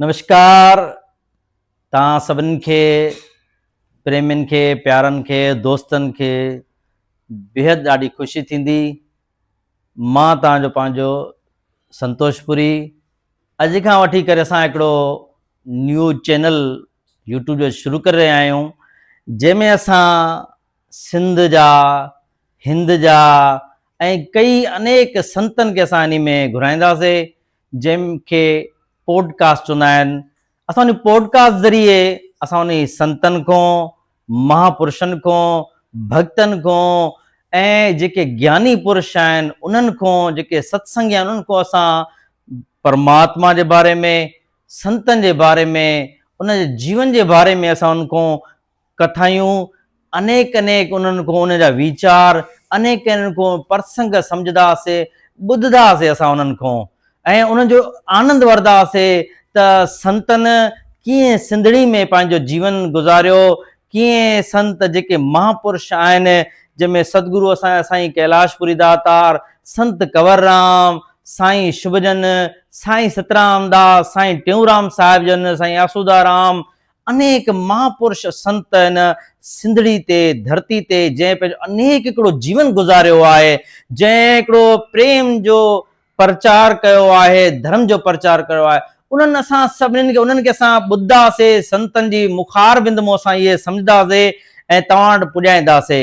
نمشڪار توهان سڀني کي پريمين کي پيارن کي دوستن کي بيحد ڏاڍي خوشي ٿيندي مان توهان جو پنهنجو سنتوش پوري اڄ کان وٺي ڪري اسان هڪڙو نيو چينل يوٽيوب جو شروع ڪري رهيا آهيون جنهن ۾ اسان سنڌ جا هند جا ۽ ڪئي انيڪ سنتن کي اسان انهي ۾ گهرائينداسي جنهن کي پوڊ ڪاسٽ چوندا آهن، اسان ان پوڊ ڪاسٽ ذريعي اسان انهي سنتن کون، مها پرشن کون، ڀڳتن کون ۽ جيڪي گياني پرش آهن انهن کون، جيڪي ست سنگي آهن انهن کون اسان پرماتما جي باري ۾، سنتن جي باري ۾، انهن جي جيون جي باري ۾ اسان انهن کون ڪٿايون انيڪ انيڪ انهن کون انهن جا ويچار انيڪ انهن کون پرسنگ سمجهدا سي ٻڌدا سي اسان انهن کون ۽ انهن جو آنند وردا سي ته سنتن ڪيئن سنڌڙي ۾ پنهنجو جيون گذاريو ڪيئن سنت جيڪي مها پرش آهن جن ۾ ستگرو اسان جا سائين ڪيلاش پوري داتار سنت ڪنور رام سائين شڀجن سائين سترام داس سائين ٽيئونرام صاحب جن سائين آسودا رام انيڪ مهاپرش سنت هن سنڌڙي تي، ڌرتي تي، جنهن پنهنجو انيڪ هڪڙو جيون گذاريو آهي، جنهن هڪڙو پريم جو پرچار ڪيو آهي، ڌرم جو پرچار ڪيو آهي، انهن اسان سڀني کي انهن کي اسان ٻڌدا سي، سنتن جي مخاربند مون اسان اهي سمجهدا سي ۽ توهان وٽ پڄائيندا سي.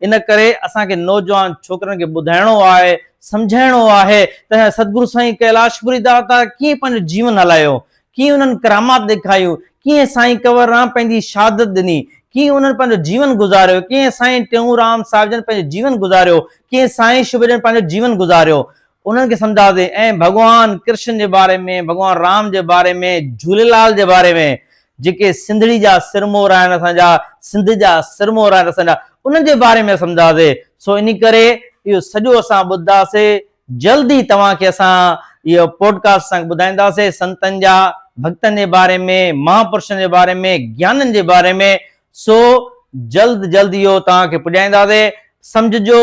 ان ڪري اسان کي نوجوان ڇوڪرن کي ٻڌائڻو آهي، سمجهائڻو آهي ته سدگرو سائين ڪيلاش پوري داتا ڪيئن پنهنجو جيون هلايو، ڪيئن انهن ڪرامات ڏيکاريون، ڪيئن سائين ڪنور رام پنهنجي شهادت ڏني، ڪيئن انهن پنهنجو جيون گذاريو، ڪيئن سائين ٽيئونرام صاحب جن پنهنجو جيون گذاريو، ڪيئن سائين شبر جن پنهنجو جيون گذاريو. انهن کي سمجهاسين ۽ ڀڳوان ڪرشن جي باري ۾ ڀڳوان رام جي باري ۾ جهوليلال جي باري ۾ جيڪي سنڌڙي جا سرمور آهن اسان جا سنڌ جا سرمور آهن اسان جا انهن جي باري ۾ سمجهاسي سو انهي ڪري اهو سڄو اسان ٻڌداسي جلد ئي توهان کي اسان اهو پوڊڪاسٽ اسان ٻڌائينداسي سنتن جا ڀڳتن جي باري ۾ مها پرشن جي باري ۾ گيانن جي باري ۾ سو جلد جلد اهو توهان کي پڄائينداسي سمجهجو